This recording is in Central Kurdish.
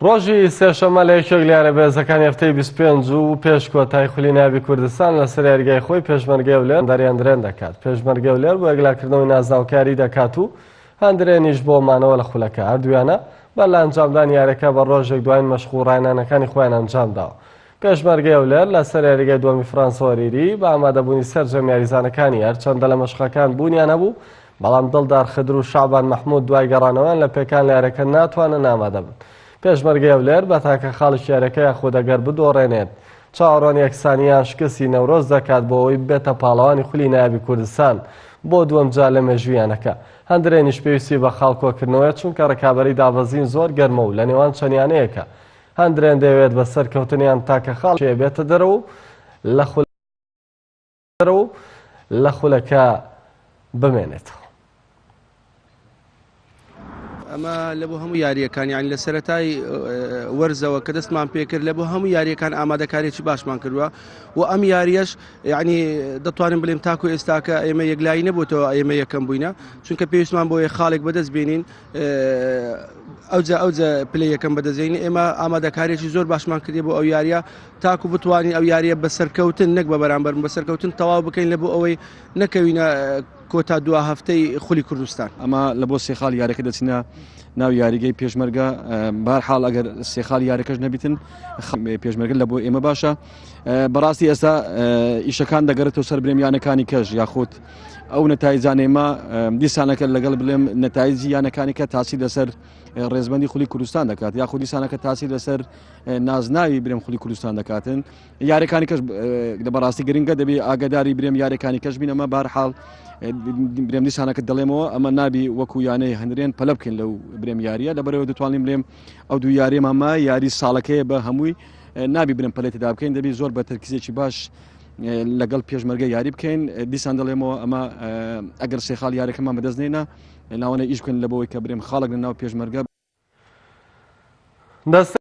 ڕۆژی سێشەممە لە یەکێک لە یانە بەهێزەکانی هەفتەی بیست و پێنج و پێش کۆتایی خولی نایابی کوردستان لەسەر یاریگای خۆی پێشمەرگەی هەولێر دەریان درێن دەکات، پێشمەرگەی هەولێر بۆ یەکلاکردنەوەی نازناوەکە یاریی دەکات و هەندرێنیش بۆ مانەوە لە خولەکە، هەردوو یانە بەر لە ئەنجامدانی یارییەکە بە ڕۆژێک دوایین مەشق و ڕاهێنانەکانی خۆیان ئەنجامداوە. پێشمەرگەی هەولێر لەسەر یاریگای دووەمی فرانسۆریری بە ئامادەبوونی سەرجەم یاریزانەکانی هەرچەندە لە مەشقەکان بوونیان هەبوو، بەڵام دڵدار خدر و شەعبان مەحمود دوای گەڕانەوەیان لە پێکان لە یاریەکە ناتوانن ئامادە بن پێشمەرگەی هەولێر بە تاکە خاڵی یاریەکە یاخود ئەگەر بدۆڕێنێت چاوەڕوان یەکسانیان شکستی نەورۆز دەکات بۆ ئەوەی بێتە پاڵەوانی خولی نایابی کوردستان بۆ دووەم جا لە مێژوویانەکە هەندرێنیش پێویستی بە خاڵ کۆکردنەوەیە چونکە ڕکابەری دابەزین زۆر گەرمە و لە نێوان چەندیانەیەکە هەندرێن دەوێت بە سەرکەوتنیان تاکە خاڵ بێتە دەرەوە لە خول و لە خولەکە بمێنێتەوە. ئەمە لە بۆ هەموو یاریەکان یان لە سەتای وەرزەوە کە دەستمان پێکرد لە بۆ هەموو یاریەکان ئامادەکارێکی باشمان کردووە و ئەم یاریەش یعنی دەتوانین بلێم تاکو ئێستاکە ئێمە یەکلایی نەبووتەوە ئێمە یەکەم بووینە چونکە پێویستمان بۆیە خاڵێک بەدەست بینین ئەوجا ئەوجا پلەی یەکەم بەدەزێنی ئێمە ئامادەکارێکی زۆر باشمان کردی بۆ ئەو یاریە تاکو بتوانین ئەو یاریە بە سەرکەوتن نەک بە بەرامبەر بە سەرکەوتن تەواو بکەین لە بۆ ئەوەی نەکەوینە کۆتا دو هەفتەی خولی کوردستان ئەمە لە بۆ سێخال یاریەکە دەچینە ناو یاریگەی پێشمەرگە بار حاڵ ئەگەر سێخال یاریەکەش نەبیتن پێشمەرگە لە بۆ ئێمە باشە بەڕاستی ئێستا ئیشەکان دەگەرێتەوە سەر برێمیانەکانی کەژ یاخود ئەو نەتایجانێمە دیسانەکە لەگەڵ بلێم نەتایجی یانەکانیکە تاسی لەسەر ڕێزبندی خولی کوردستان دەکات یا خودی سانەکە تاسی لەسەر نازناوی برم خولی کوردستان دەکاتن یارەکانی کەس لە بەڕاستی گرنگە دەبێت ئاگداری برێم یارەکانی کەس بینەمە بارحاڵ برێم دیسانەکە دەڵێمەوە ئەمە نابی وەکو یانەی هەندرێن پەلە بکەین لەو برێم یاریە لەبەرەوە دەتوانین برێم ئەو دوو یاریێمەمە یاری ساڵەکەی بە هەمووی نابی برم پلێتدا بکەین دەبی زۆر بە تەرکیزێکی باش لەگەڵ پێشمەرگە یاری بکەین دیسان دەڵێمەوە ئەمە ئەگەر سێ خاڵ یارەکەمان بەدەست نینە ناوانە ئیش بکەن لە بەوەی کە برێم خاڵک لە ناو پێشمەرگە دەست